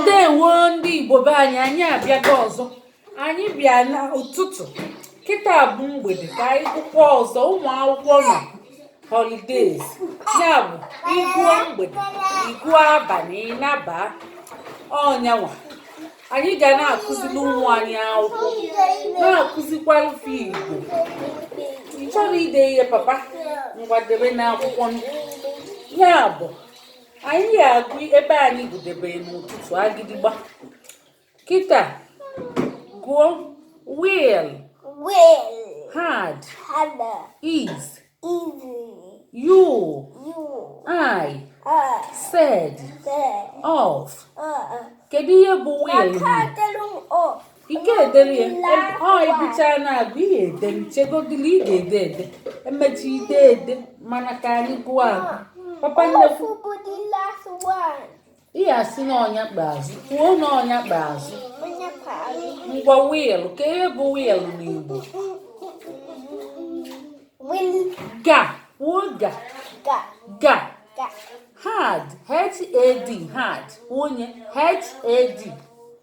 ndewo ndị igbo be anyị anyị abịago ọzọ anyị bịa n'ụtụtụ kịta bụ mgbede ka anyị gụkwa ọzọ ụmụ akwụkwọ nọ holidays ya bụ ị gụọ mgbede ị gụọ abalị ị naba ọnyanwa anyị ga na-akụziri ụmụ anyị akwụkwọ na-akụzikwara fa igbo ị chọrọ ide ihe papa ngwa debe n'akwụkwọ ya bụ anyị ya-agụ ebe anyị gụdebere n'ụtụtụ agịdịgba kịta gụọ will will had had is is you you I uh, said said of uh, uh. kedu ihe bụ will ike edere ya ọ ịbụchaa na-agụ ihe e dere chegodili ị ga-ede ede e mechaa i dee ede mana ka anyị gụọ agụ papa nnekwu ihe a sị na ọnya kpa azụ kwuo na ọnya kpa azụ ngwa will ka ihe bụ will n'igbo ga kwuo ga ga had h-a-d had onye h-a-d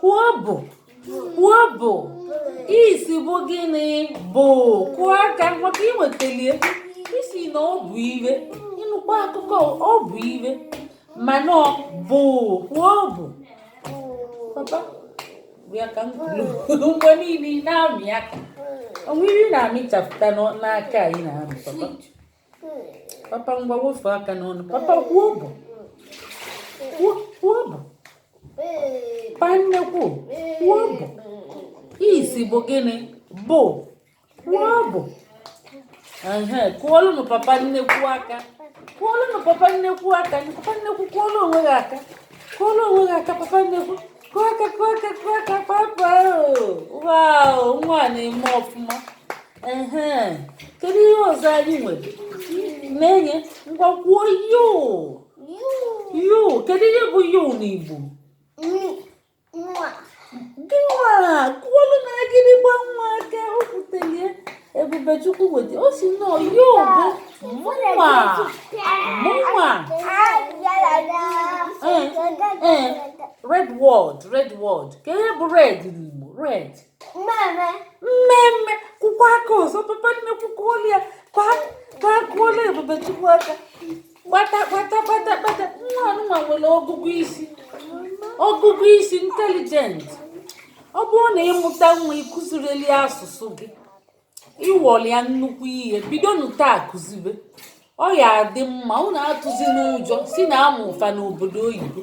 kwuo bụ kwuo bụ is bụ gịnị bụ kụọ aka maka i nwetalie ị sị na ọ bụ ihe ị nụkwa akụkọ ọ bụ ihe mana ọ bụ kwuo bụ papa bịa ka m kwuru mgbe niile ị na-amị aka o nwere ihe ị na-amịchapụta n'aka a ị na-amị papa papa ngwa wefụ aka n'ọnụ papa kwuo bụ kwuo bụ pa nnekwu kwuo bụ is bụ gịnị bụ kwuo bụ ehe kụọlụnụ papa nnekwu aka kụọlụnụ papa nnekwu aka papa nnekwu kụọlụ onwe gị aka kụọlụ onwe gị aka papa nnekwu kụọ aka kụọ aka kụọ aka papa wow nwa na-eme ọfụma ehe kedu ihe ọzọ anyị nwere na-enye ngwa kwuo you you kedu ihe bụ you n'igbo gị nwa kụọlụnụ agịdịgba nwa aka o kwutelie ebubechukwu weta ọ sị na you bụ mụnwa mụnwa ee ee red word red word ka ihe bụ red n'igbo red mmemme mmemme kụkwa aka ọzọ papa nnekwu kụọlụ ya aka kụọlụ ebubechukwu aka gbata gbata gbata gbata nwa anụnwa nwere ọgụgụ isi ọgụgụ isi intelligent ọ bụrụ na ị mụta nwa ị kụzirili ya asụsụ gị ị wọli ya nnukwu ihe bidonu taa kụzibe ọ ya-adị mma unu atụzina ụjọ si na a mụụ fa n'obodo oyibo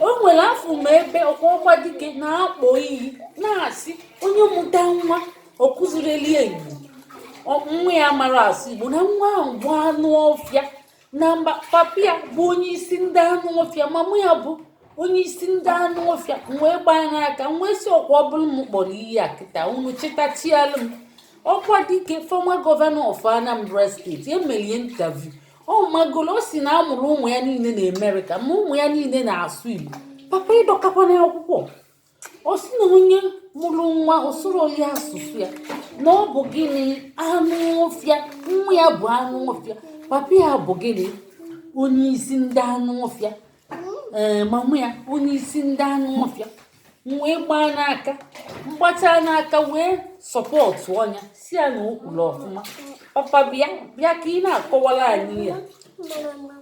o nwere afụ m ebe okwadike na-akpọ iyi na-asị onye mụta nwa ọ kụzirọli ya igbo ọ- nwa ya amarọ asụ igbo na nwa ahụ bụ anụ ọfịa na mba papa ya bụ onye isi ndị anụ ọfịa mama ya bụ onye isi ndị anụ ọfịa wee gbaa n'aka wee si ọkwa ọ bụrụ m kpọrọ iyi a kịta unu chịtachialụ m okwadike former governor of anambra state emelie interview ọ magolo o si na a mụrụ ụmụ ya niile na amerịka ma ụmụ ya niile na-asụ igbo papa ịdọkakwana akwụkwọ ọ sị na onye mụrụ nwa ọ sụrọ ya asụsụ ya na ọ bụ gịnị anụ ọfịa nwa ya bụ anụ ọfịa papa ya bụ gịnị onye isi ndị anụ ọfịa ee mama ya onye isi ndị anụ ọfịa wee gbaa n'aka m gbachaa n'aka wee sọpọtụọ nya si ya na o kwuru ọfụma papa bịa ka ị na-akọwara anyị ya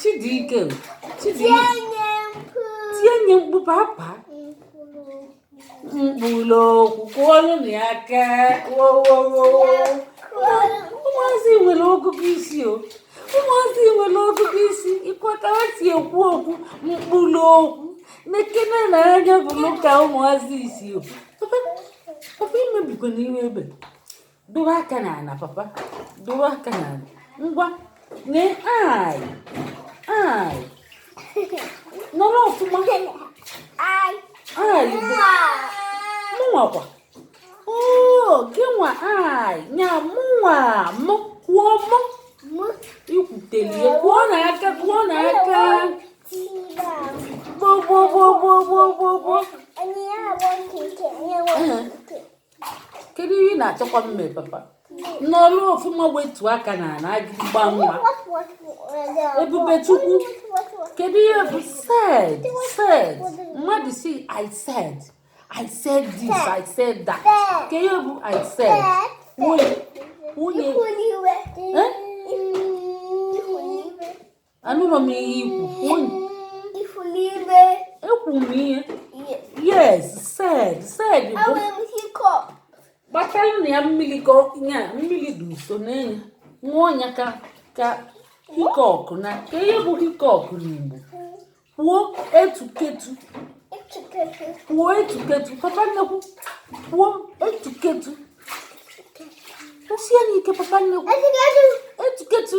Chidiike Chidiike tinye nye mkpu papa mkpụrụ okwu kụọlụnụ ya aka ụmụazị nwere ọgụgụ isi o ụmụazị nwere ọgụgụ isi ịkwata ha si ekwu okwu mkpụrụ okwu nekene na anya bụ ka ụmụazị isi o papa imebikwana ihe ebe dowe aka n'ala papa dowe aka n'ala ngwa lee i i nọrọ ọfụma i mụnwakwa oo gịnwa i nya mụnwa mụ kwuo mụ i kwutelie kụọnụ aka kụọnụ aka gbogbogbogbogbogbo kedu ihe ị na-achọkwa mme papa nọrọ ọfụma wetu aka n'ala agịgba nwa ebube chukwu kedu ihe bụ said said mmadụ si i said i said this i said that ke ihe bụ i said nwunye nwunye anụrụ m ihe i kwu ifuru ime ekwu m ihe yes said said bụ gbatalụnụ ya mmiri ka ya mmiri dị nso n'enye ṅụọ ya ka ka hiccup na ke ihe bụ hiccup n'igbo kwuo etuketu kwuo etuketu papa nnekwu kwuo etuketu kwusie n'ike papa nnekwu etuketu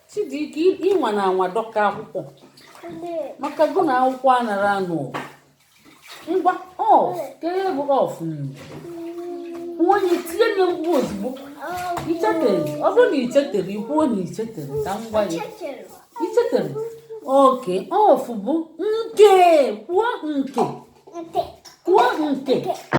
Chidike ị nwana anwa dọka akwụkwọ maka gụ na akwụkwọ anara anụ ngwa of kee ihe bụ of nwa onye tinye nye mgbu ozugbo ichetere ọ bụrụ na ichetere ikwuo na ichetere ka m gwa ya ichetere okay of bụ nke kwuo nke kwuo nke